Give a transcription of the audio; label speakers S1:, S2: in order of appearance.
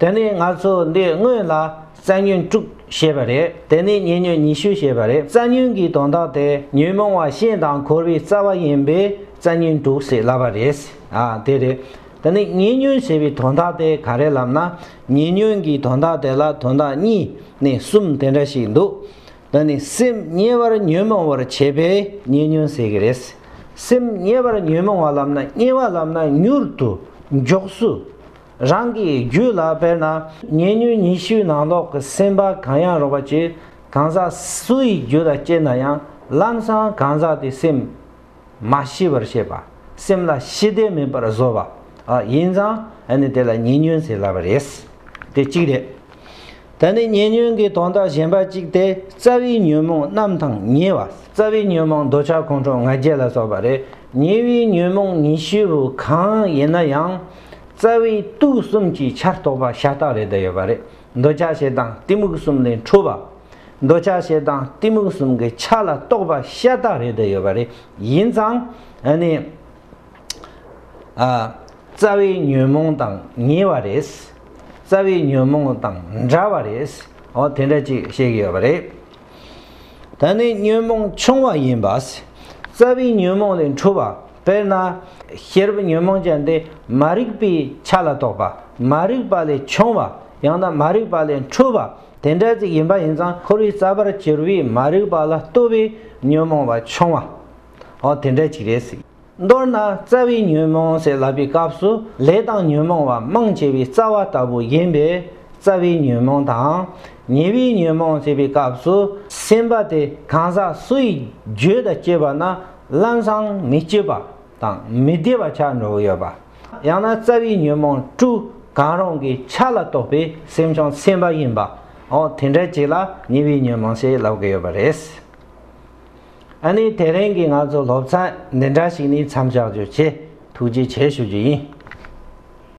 S1: དེ་ནས་ང་ཚོ་འདི་དངོས་ལ་རྩལ་ཉོན་དྲུག་ཞེས་པ་རེད་དེ་ནས་ཉེ་ཉོན་ཉི་ཤུ་ཞེས་པ་རེད་རྩལ་ཉོན་གྱི་དོན་དག་དེ་ཉོན་མོངས་བ་ཤིན་དང་འཁོར་བའི་རྩ་བ་ཡིན་པས་རྩལ་ཉོན་དྲུག་ཟེར་སླ་བ་རེད་ཨ་དེ་རེད་དེ་ནས་ཉེ་ཉོན་ཞེས་པའི་དོན་དག་དེ་ག་རེ་ལབ་ན་ཉེ་ཉོན་གྱི་དོན་དག་དེ་ལ་དོན་དག་གཉིས་ནས་གསུམ་དེ་འདྲ་ཞིག་འདུག་དེ་ནི་སེམས་དམྱལ་བར་ཉོན་མོངས་བར་བྱེད་པས་ཉེ་ཉོན་ཟེར་གྱི་རེད་སེམས་དམྱལ་བར་ཉོན་མོངས་བ་ལབ་ན་དམྱལ་བ་ལབ་ན་མྱུར་དུ་མགྱོགས་སུ་རང་གི་རྒྱུད་ལ་དཔེར་ན་ཉེ་སྙུན་ཉི་ཤུའི་ནང་ལོག་གི་སེམས་པ་གང་ཡང་རོགས་པ་བྱེད་གང་ཟག་སུ་ཡི་རྒྱུད་ལ་སྐྱེས་ན་ཡང་ལམ་སང་གང་ཟག་དེ་སེམས་མ་ཤི་བར་བྱེད་པ་སེམས་ལ་ཤི་བདེ་མིན་པར་བཟོ་བ་ཡིན་ཙང་ཨ་ནི་དེ་ལ་ཉེ་སྙུན་ཟེར་སླ་བ་རེད། དེ་གཅིག་རེད། ད་ནི་ཉེ་སྙུན་གྱི་དོན་དག་གཞན་པ་གཅིག་སྟེ་རྩ་བའི་ཉོན་མོངས་རྣམས་དང་ཉེ་བ་རྩ་བའི་ཉོན་མོངས་འདོད་ཆགས་ཁོང་ཁྲོ་ང་རྒྱལ་ལ་སོགས་པ་རེད་ཉེ་བའི་ཉོན་མོངས་ཉི་ཤུ་བོ་གང་ཡིན་ན་ཡང། རྩ་བའི་དུག་གསུམ་གྱི་ཆར་གཏོགས་པ་ཤ་སྟག་ལས་བསྡུས་ཡོད་པ་རེད། འདོད་ཆགས་ཞེ་སྡང་གཏི་མུག་གསུམ་ལས་འཕྲོས་པ། འདོད་ཆགས་ཞེ་སྡང་གཏི་མུག་གསུམ་གྱི་ཆ་ལ་གཏོགས་པ་ཤ་སྟག་རེ་བསྡུས་ཡོད་པ་རེད། ཡིན་ཙང། ཨ་ནི། རྩ་བའི་ཉོན་མོངས་དང་ཉེ་བ་རེད། རྩ་བའི་ཉོན་མོངས་དང་འདྲ་བ་རེད། འོ་དེ་འདྲ་ཅིག་བཤད་ཀྱི་ཡོད་པ་རེད། ད་ནི་ཉོན་མོངས་ཆུང་བ་ཡིན་པ། རྩ་བའི་ཉོན་མོངས་ལས་འཁྲུལ་བ། དཔེར་ན། ཤེས་རབ་ཉོན་མོངས་ཅན་ཏེ་མ་རིག་པའི་ཆ་ལ་གཏོགས་པ། མ་རིག་པ་ལས་ཆུང་བ། ཡང་ན་མ་རིག་པ་ལས་འཁྲུལ་བ། དེ་འདྲ་ཅིག་ཡིན་པ་ཡིན་ཙང་འཁོར་བའི་རྩ་བར་གྱུར་པའི་མ་རིག་པ་ལ་ལྟོས་པའི་ཉོན་མོངས་པ་ཆུང་བའང་དེ་འདྲ་ཅིག་རེད། མདོར་ན་རྩ་བའི་ཉོན་མོངས་ཟད་ལ་པའི་སྐབས་སུ་ལས་དང་ཉོན་མོངས་བ་མང་ཆེ་བའི་རྩ་བ་ལྟ་བུ་ཡིན་པས་རྩ་བའི་ཉོན་མོངས་དང། ཉེ་བའི་ཉོན་མོངས་ཟད་པའི་སྐབས་སུ་སེམས་པ་དེ་གང་ཟག་སུ་ཡི་རྒྱུད་དང་བཅས་པ་ན་བླ་བཟང་མི་སྐྱིད་པ་དང་མི་བདེ་བ་ཆགས་འགྲོ་གི་ཡོད་པ། ཡང་ན་རྩ་བའི་ཉོན་མོངས་དྲུག་གང་རུང་གི་ཆ་ལ་གཏོགས་པའི་སེམས་བྱུང་སེམས་པ་ཡིན་པའོ་དེ་འདྲ་ཅིག་ལ་ཉེ་བའི་ཉོན་མོངས་ཟད་ལ་བ་གི་ཡོད་པ་རེད། ཨ་ནི་དེ་རིང་གི་ང་ཚོ་སློབ་ཚན་འདི་འདྲ་ཞིག་ནི་མཚམས་བཞག་རྒྱུ་ཆེ་ཐུགས་རྗེ་ཆེ་ཞུ་རྒྱུ་ཡིན།